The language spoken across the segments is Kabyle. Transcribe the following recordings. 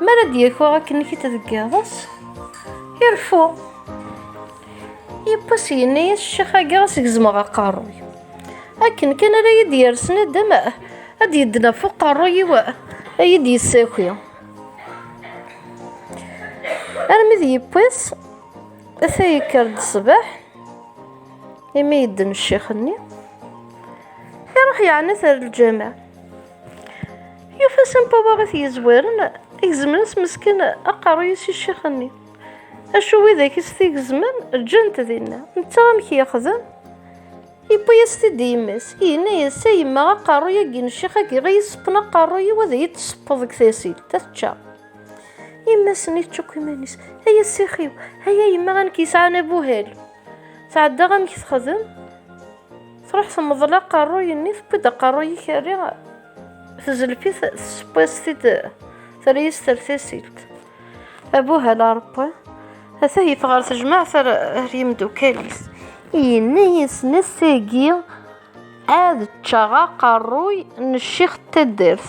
Mi ara d-yako akken i deg iḍes, ireffu. Yewwas yenna-yas ccix-agi ad s-gezmeɣ aqerruy. Akken kan ara yi-d-yersen nadam, ad d-yeddnaf uqerruy-iw ad yi-d-yessaki. Armi d yewwas, ata yekker-d ṣṣbeḥ, imi yedden ccix-nni, iruḥ yeɛna-t ar lǧameɛ. Yufa Sampaba i t-yezwaren, igezmen s meskin aqerruy-is i ccix-nni. Acu widak i s-t-igezmen, ǧǧan-t dinna. Netta amek yexdem? Yewwi-yas-t-id i yemma-s, yenna-yas, a yemma aqerruy-agi n ccix-agi i yesseppen aqerruy-iw ad iyi-d-tseppeḍ deg tasilt, ad t-ččeɣ. Yemma-s-nni tečča akk iman-is, ay a ssix-iw, ay a yemma anek yesɛan abuhal. Tɛeddaɣ amek texdem Tṛuḥ temḍel aqerruy-nni Tewwi-d aqerruy-ik Rri tezlef-it Tesseww-as-t-id Terra-yas tertasilt Abuhal a Ṛebbi Ata yif ɣer tejmaɛt Ar yimdukal-is Yenna-yasen ass-agi Ad ččeɣ aqerruy N ccix n taddart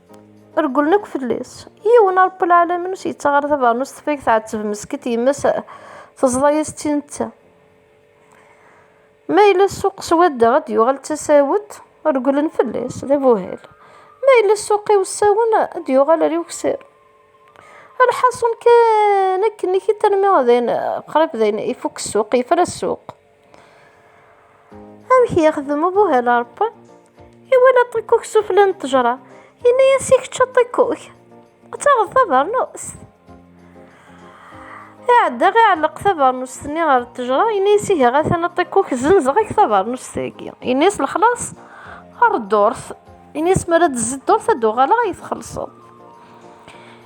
Regglen akk fell-as. Yiwen a Rebbi lɛalamin ur s-yettaɣ ara tabeṛnust teffay tɛetteb mesket yemma-s teẓḍa-yas d tin netta. Ma yella ssuq swadda ad d-yuɣal d tasawet, regglen fell-as, d abuhal. Ma yella ssuq iwessawen ad d-yuɣal ar iweksan. Lḥaṣun kan akken-ik-id armi dayen qrib dayen ifukk ssuq, yefra ssuq. amek yexdem ubuhal arebban iwala ṭikkuk sufla n ṭejra yenna-yas i kečč a ṭikkuk ad taɣeḍ tabarnust iɛedda iɛelleq tabarnust-nni ɣer ṭejra yenna-yas ihi atan a ṭikkuk zenzeɣ-ak tabarnust-agi yenna-yas lexlaṣ ar ddurt yenna-yas mi ara d-tezzi ddurt ad d-uɣaleɣ ad yi-txellṣeḍ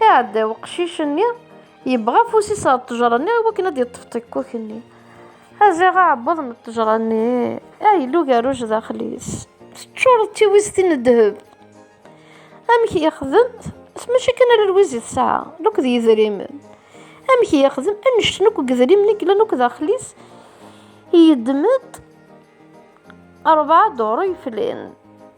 Iɛedda weqcic-nni, yebɣa afus-is ɣer ṭṭejra-nni iwakken ad d-yeṭṭef ṭikkuk-nni. Aziɣ aɛebbuḍ n ṭṭejra-nni, a yella ugerruj daxel-is, teččureḍ d tiwiztin n ddheb. Amek yexdem? Mačči kan ala lwiz i tesɛa, lok d yidrimen. Amek yexdem? Annect-en akk n yidrimen i yellan akk daxel-is, yeddem-d rebɛa duru yeflan.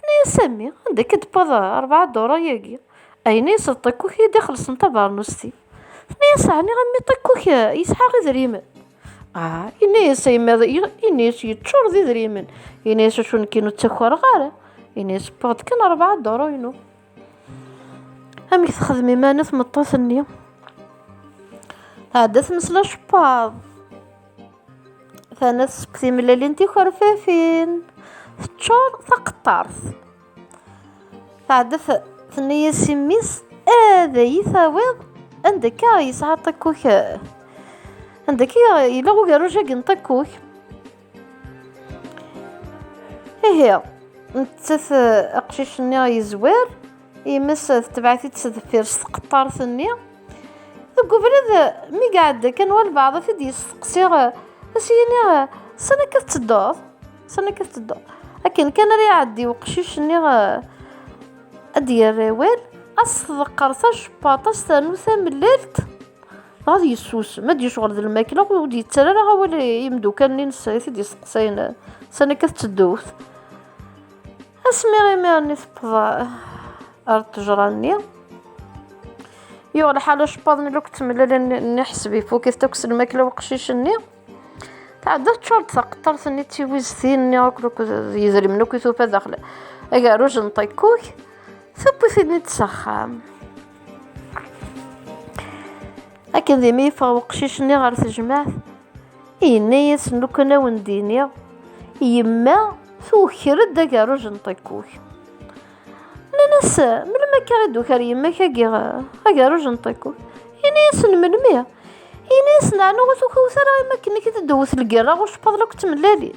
Tenna-yas a mmi, anda akka d-tewweḍ rebɛa dura-yagi? Ayen i iseḍ Ṭikkuk i d-ixellṣen tabernust-i. Tenna-yas, Ɛni a mmi Ṭikkuk yesɛa idrimen? Ah, yenna-yas, a yemma, yenna-yas yeččur d idrimen. Yenna-yas, acu nekkini ur ttakkareɣ ara. Yenna-yas, wwiɣ-d kan rebɛa dura-inu. amek texdem iman tmeṭṭut-nni tɛedda tmesla cebbaḍ tana seg timellalin tikerfafin teččur taqeṭṭart tɛedda tenna-yas i mmi-s ad iyi-tawiḍ anda akka yesɛa ṭikkuk anda akka yella ugerruj-agi n ṭikkuk ihi nettat aqcic-nni yezwir yemmes tetbeɛ-it-id s deffir s tqeṭṭart-nni deg ubrid mi iɛedda kan walbeɛḍ ad t-id-yesteqsi ad s-yini sani akka tettedduḍ sani akka tettedduḍ akken kan ara iɛeddi uqcic-nni ad d-yerr awal as-tḍeqqer tacepaṭ as-ternu tamellalt Ad yessusem, ad yecɣel d lmakla, ur d-yettar ara awal i yimeddukal-nnes i t-id-yesteqsayen sani akka tettedduwt. Asmi imir-nni tewweḍ ar ttejra-nni, yuɣ lḥal acebbad-nni akk ttemlalen iḥseb ifuk-it akk s lmakla weqcic-nni. Tɛedda teččur-d taqeṭṭart-nni d tiwiztin-nni akk d yidrimen akk i tufa daxel agerruj n ṭikkuk, tewwi-t-id s axxam. akken dimi yeffeɣ weqcic-nni ɣer tejmaɛt yenna-yasen lukan awen d-iniɣ yemma tuker-d agerruj n ṭikkuk nnan-as melmi akka i d-uker yemma-k agi agerruj n ṭikkuk yenna-yasen melmi yenna-yasen ɛni ur tukawet ara yemma-k nekk d-dewwet lgerra ɣur cpaḍ la k-ttmellalin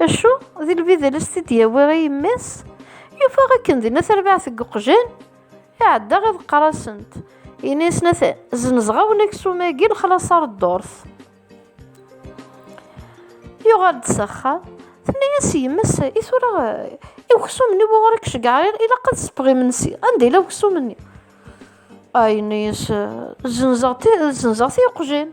Acu? D lbidel i s-t-id-yawi i yemma-s? Yufa akken dinna tarbaɛt deg uqjan, iɛedda iḍ qqar-asent, yenna-yasen atan, zzenzeɣ-awen aksum-agi lexlaṣ ar ddurt. Yuɣal-d s axxam, tenna-yas yemma-s, i tura i uksum-nni wuɣur i k-ceggɛeɣ, ilaq ad sseppɣ imensi, anda yella uksum-nni? Ah, yenna-yas, zzenzeɣ-t i uqjan.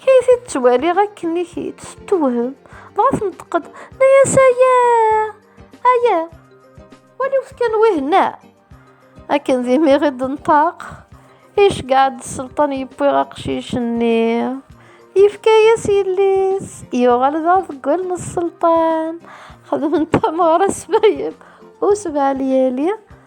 Kay t-id-ttwaliɣ akken i k-id-tettewhem, dɣa tneṭqed, nna-yas aya, aya, waliwt kan wihenna. Akken d imi i d-nṭaq, iceggeɛ-d sselṭan yewwi aqcic-nni. Yefka-yas yelli-s, yuɣal d aḍeggul n sselṭan. Xedmen tameɣra s Fayel u sebɛa lyali.